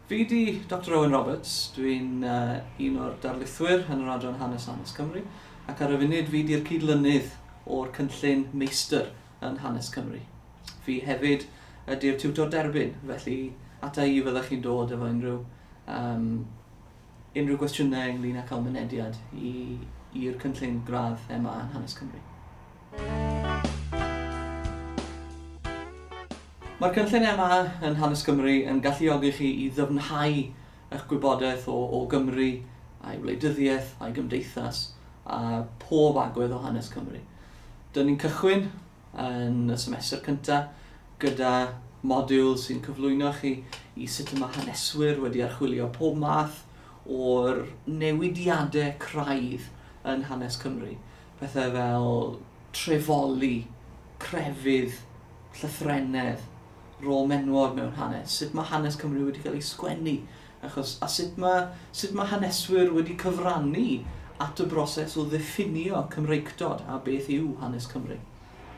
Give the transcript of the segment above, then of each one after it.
Fi 'di Doctor Owen Roberts, dwi'n un o'r darlithwyr yn yr adran Hanes Hanes Cymru ac ar y funud fi 'di'r cyd-lynydd o'r cynllun Meistr yn Hanes Cymru. Fi hefyd ydi'r tiwtor derbyn, felly ata i y fyddech chi'n dod efo unrhyw um, unrhyw gwestiynau ynglyn â cael mynediad i'r cynllun gradd MA yn Hanes Cymru. Mae'r cynlluniau yma yn Hanes Cymru yn galluogi chi i ddyfnhau eich gwybodaeth o o Gymru, a'i wleidyddiaeth, a'i gymdeithas, a phob agwedd o hanes Cymru. Dyn ni'n cychwyn yn y semester cyntaf gyda modiwl sy'n cyflwyno chi i sut y mae haneswyr wedi archwilio pob math o'r newidiadau craidd yn hanes Cymru. pethau fel trefoli, crefydd, llythrennedd, rôl menywod mewn hanes, sut mae hanes Cymru wedi cael ei sgwennu, achos, a sut mae, sut mae haneswyr wedi cyfrannu at y broses o ddiffinio Cymreictod a beth yw hanes Cymru.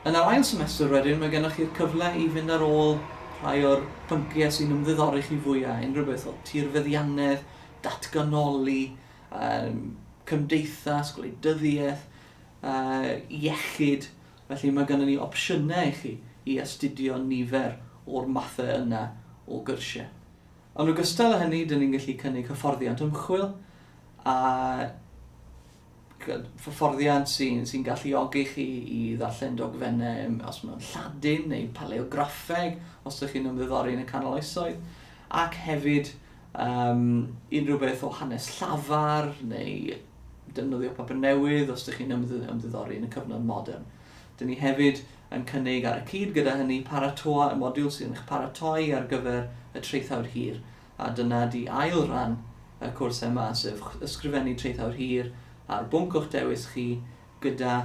Yn yr ail semester wedyn, mae gennych chi'r cyfle i fynd ar ôl rhai o'r pynciau sy'n ymddiddori chi fwyaf, unrhyw beth o tirfeddiannedd, datganoli, um, cymdeithas, gwleidyddiaeth, uh, iechyd, felly mae gennym ni opsiynau i chi i astudio nifer o'r mathau yna o gyrsiau. Yn ogystal â hynny, dyn ni'n gallu cynnig hyfforddiant ymchwil a hyfforddiant sy'n sy galluogi chi i ddarllen dogfennau os mae'n Lladin neu paleograffeg, os ydych chi'n ymddiddori yn y canol oesoedd, ac hefyd Yym, unrhyw beth o hanes llafar, neu defnyddio papur newydd os dych chi'n ymddiddori yn y cyfnod modern. Dyn ni hefyd yn cynnig ar y cyd gyda hynny paratoa y modiwl sydd yn eich paratoi ar gyfer y traethawd hir, a dyna di ail ran y cwrs yma, sef ysgrifennu traethawd hir ar bwnc o'ch dewis chi gyda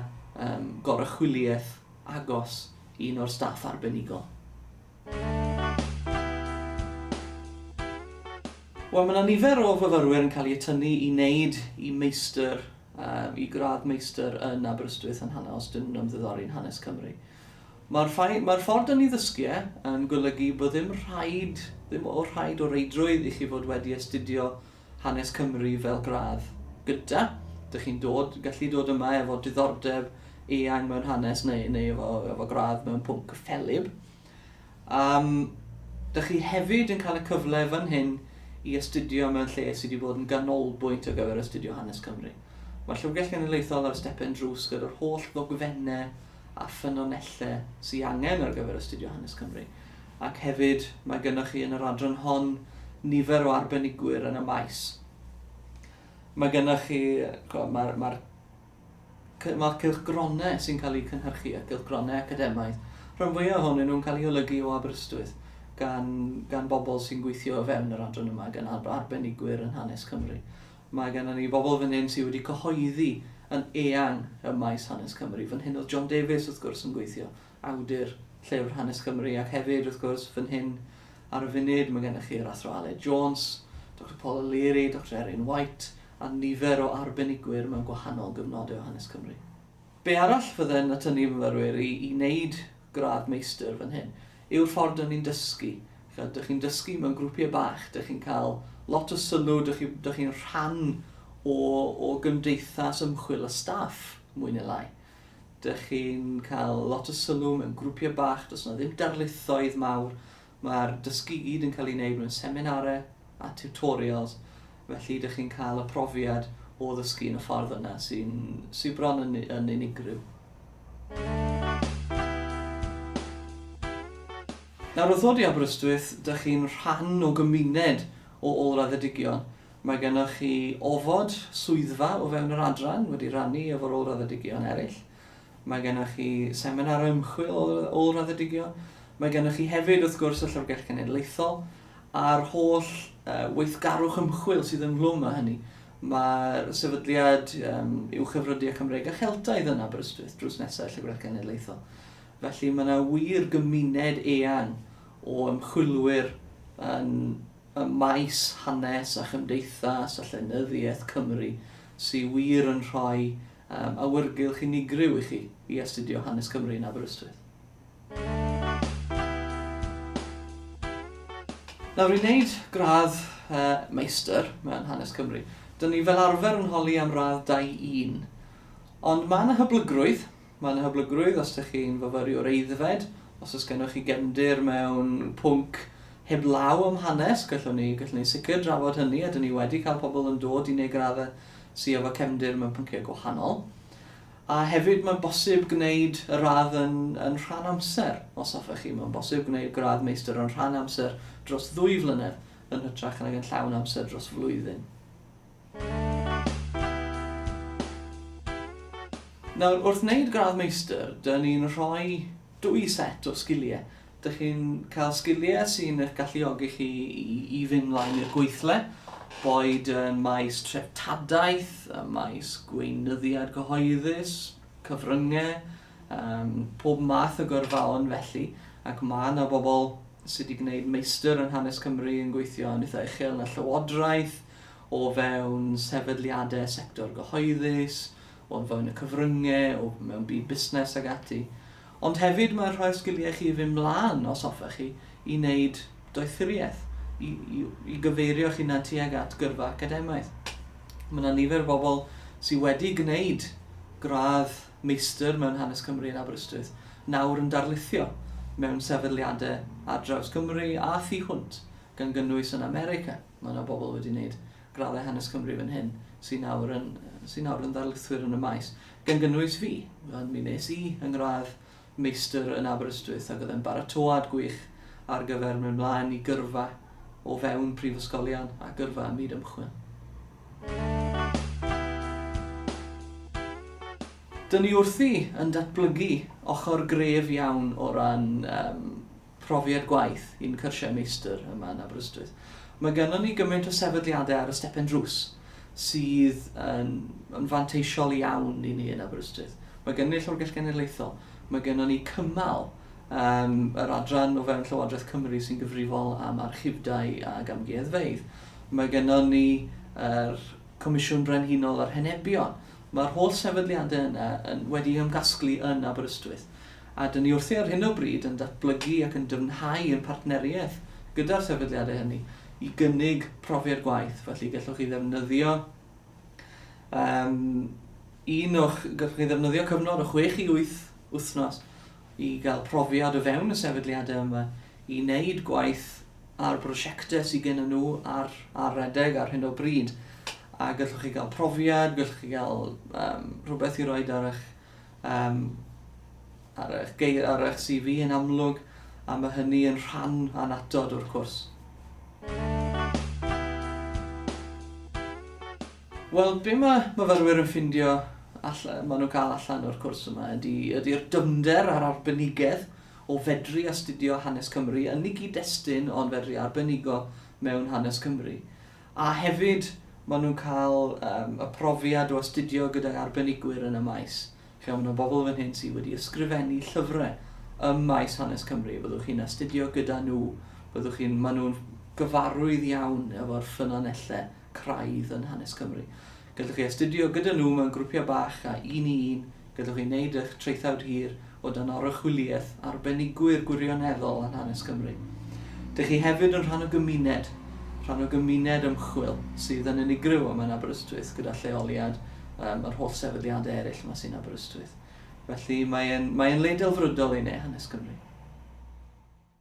um, gorychwyliaeth agos un o'r staff arbenigol. Wel, mae 'na nifer o fyfyrwyr yn cael eu tynnu i wneud i meistr, um, i gradd meistr yn Aberystwyth yn hanner os dyn nhw'n ymddiddori yn hanes Cymru. Mae'r mae ffordd dyn ni ddysgu e yn golygu bod ddim rhaid, ddim o rhaid o reidrwydd i chi fod wedi astudio hanes Cymru fel gradd gyda. Dych chi'n dod, gallu dod yma efo diddordeb eang mewn hanes neu, neu efo, efo gradd mewn pwnc ffelib. Um, dych chi hefyd yn cael y cyfle fan hyn i astudio mewn lle sydd wedi bod yn ganolbwynt ar gyfer astudio hanes Cymru. Mae'r Llyfrgell Genedlaethol ar y stepen drws gyda'r holl ddogfennau a ffynonellau sydd angen ar gyfer astudio hanes Cymru, ac hefyd mae gennych chi yn yr adran hon nifer o arbenigwyr yn y maes. Mae gennych chi, mae'r ma ma cylchgronau sy'n cael eu cynhyrchu a cylchgronau academaidd, rhan fwyaf ohonyn nhw'n cael eu holygu o Aberystwyth gan, gan bobl sy'n gweithio o fewn yr adran yma, gan arbenigwyr yn hanes Cymru. Mae gennon ni bobl fan hyn sy wedi cyhoeddi yn eang ym maes hanes Cymru. Fan hyn oedd John Davies, wrth gwrs, yn gweithio, awdur llyfr hanes Cymru, ac hefyd, wrth gwrs, fan hyn ar y funud, mae gennych chi yr Athro Aled Jones, Doctor Paul O'Leary, Doctor Erin White, a nifer o arbenigwyr mewn gwahanol gyfnodau o hanes Cymru. Be arall fydde'n atynnu fy myfyrwyr i i wneud gradd meistr fan hyn yw'r ffordd dŷn ni'n dysgu. Ch'od, dych chi'n dysgu mewn grwpiau bach, dych chi'n cael lot o sylw, dych chi dych chi'n rhan o o gymdeithas ymchwil a staff, mwy neu lai. Dych chi'n cael lot o sylw mewn grwpiau bach, does 'na ddim darlithoedd mawr, Mae'r dysgu i gyd yn cael ei wneud mewn seminarau a tiwtorials, felly ydych chi'n cael y profiad o ddysgu yn y ffordd yna sy'n sy bron yn, yn unigryw. Nawr wrth ddod i Aberystwyth, dych chi'n rhan o gymuned o ôl-raddedigion. Mae gennych chi ofod swyddfa o fewn yr adran, wedi rannu efo'r ôl-raddedigion eraill. Mae gennych chi seminar o ymchwil ôl-raddedigion. Mae gennych chi hefyd, wrth gwrs, y Llyfrgell Genedlaethol a'r holl uh, weithgarwch ymchwil sydd ynghlwm â hynny. Mae'r sefydliad um, i'w chyfrydu â Cymreig a Cheltaidd yn Aberystwyth drws nesau Llyfrgell Genedlaethol. Felly mae yna wir gymuned eang o ymchwilwyr yn y maes hanes a chymdeithas a llenyddiaeth Cymru sy'n wir yn rhoi Am awyrgylch unigryw i chi i astudio hanes Cymru yn Aberystwyth. Nawr, i wneud gradd Meistr mewn Hanes Cymru, dyn ni fel arfer yn holi am radd 2-1. Ond mae yna hyblygrwydd, mae yna hyblygrwydd os ydych chi'n fyfyriwr aeddfed, os oes gennych chi gefndir mewn pwnc heblaw am hanes, gallwn ni, gallwn ni sicr drafod hynny, a dyn ni wedi cael pobl yn dod i wneud graddau sy efo cefndir mewn pynciau gwahanol, a hefyd mae'n bosib gwneud y radd yn, yn rhan amser, os hoffech chi. Mae'n bosib gwneud gradd meistr yn rhan amser dros ddwy flynedd, yn hytrach nag yn llawn amser dros flwyddyn. Nawr, wrth wneud gradd meistr, dyn ni'n rhoi Dwy set o sgiliau. Dych chi'n cael sgiliau sy'n eich galluogi chi i fynd mlaen i'r gweithle, boed ym maes treftadaeth, ym maes gweinyddiad cyhoeddus, cyfryngau, yym pob math o gyrfaon felly, ac mae 'na bobl sy' 'di gwneud meistr yn hanes Cymru yn gweithio yn eitha' uchel yn y Llywodraeth, o fewn sefydliadau sector gyhoeddus, o fewn y cyfryngau, o mewn byd busnes ac ati. Ond hefyd mae'n rhoi'r sgiliau chi i fynd mlaen, os hoffech chi, i wneud doethuriaeth, i, i, i gyfeirio'ch hunan tuag at gyrfa academaidd. Mae yna nifer o bobl sydd wedi gwneud gradd meistr mewn hanes Cymru yn Aberystwyth, nawr yn darlithio mewn sefydliadau ar draws Cymru a thu hwnt, gan gynnwys yn America. Mae yna bobl wedi gwneud graddau hanes Cymru fan hyn sy'n nawr yn, sy nawr yn ddarlithwyr yn y maes, gan gynnwys fi. Mi wnes i yng ngradd meistr yn Aberystwyth ac oedd e'n baratoad gwych ar gyfer mynd mlaen i gyrfa o fewn prifysgolion a gyrfa ym myd ymchwil. Dyn ni wrthi yn datblygu ochr gref iawn o ran um, profiad gwaith i'n cyrsiau meistr yma yn Aberystwyth. Mae gennym ni gymaint o sefydliadau ar y stepen drws sydd yn, yn fanteisiol iawn i ni yn Aberystwyth. Mae gennym ni Llyfrgell Genedlaethol, mae gennym ni cymal um, yr adran o fewn Llywodraeth Cymru sy'n gyfrifol am archifdau ac amgueddfeydd. Mae gennym ni yr er Comisiwn Brenhinol yr Henebion. Mae'r holl sefydliadau yna yn, wedi ymgasglu yn Aberystwyth. a dŷn ni wrthi ar hyn o bryd yn datblygu ac yn dyfnhau ein partneriaeth gyda'r sefydliadau hynny i gynnig profiad gwaith, felly gallwch chi ddefnyddio um, un o'ch, gallwch chi ddefnyddio cyfnod o 6 i 8 wythnos i gael profiad o fewn y sefydliadau yma i wneud gwaith ar brosiectau sydd gen nhw ar, ar redeg ar hyn o bryd a gallwch chi gael profiad, gallwch chi gael um, rhywbeth i roi ar eich um, ar, eich geir, ar eich CV yn amlwg, a mae hynny yn rhan anatod o'r cwrs. Wel, be mae myfyrwyr yn ffindio allan, maen nhw'n cael allan o'r cwrs yma ydy'r ydy dymder a'r arbenigedd o fedru astudio hanes Cymru yn ei gyd-destun ond fedru arbenigo mewn hanes Cymru. A hefyd, maen nhw'n cael yym y profiad o astudio gydag arbenigwyr yn y maes. Chimod, mae 'na bobl fan hyn sydd wedi ysgrifennu llyfrau ym maes hanes Cymru. Byddwch chi'n astudio gyda nhw. Byddwch chi'n... Maen nhw'n gyfarwydd iawn efo'r ffynonellau craidd yn hanes Cymru. Gallwch chi astudio gyda nhw mewn grwpiau bach a un i un, gallwch chi wneud eich traethawd hir o dan oruchwyliaeth arbenigwyr gwirioneddol yn hanes Cymru. Dych chi hefyd yn rhan o gymuned, rhan o gymuned ymchwil sydd yn unigryw yma yn Aberystwyth gyda lleoliad ym yr holl sefydliadau eraill yma sy'n Aberystwyth. Felly mae e'n, mae e'n le delfrydol i ne hanes Cymru.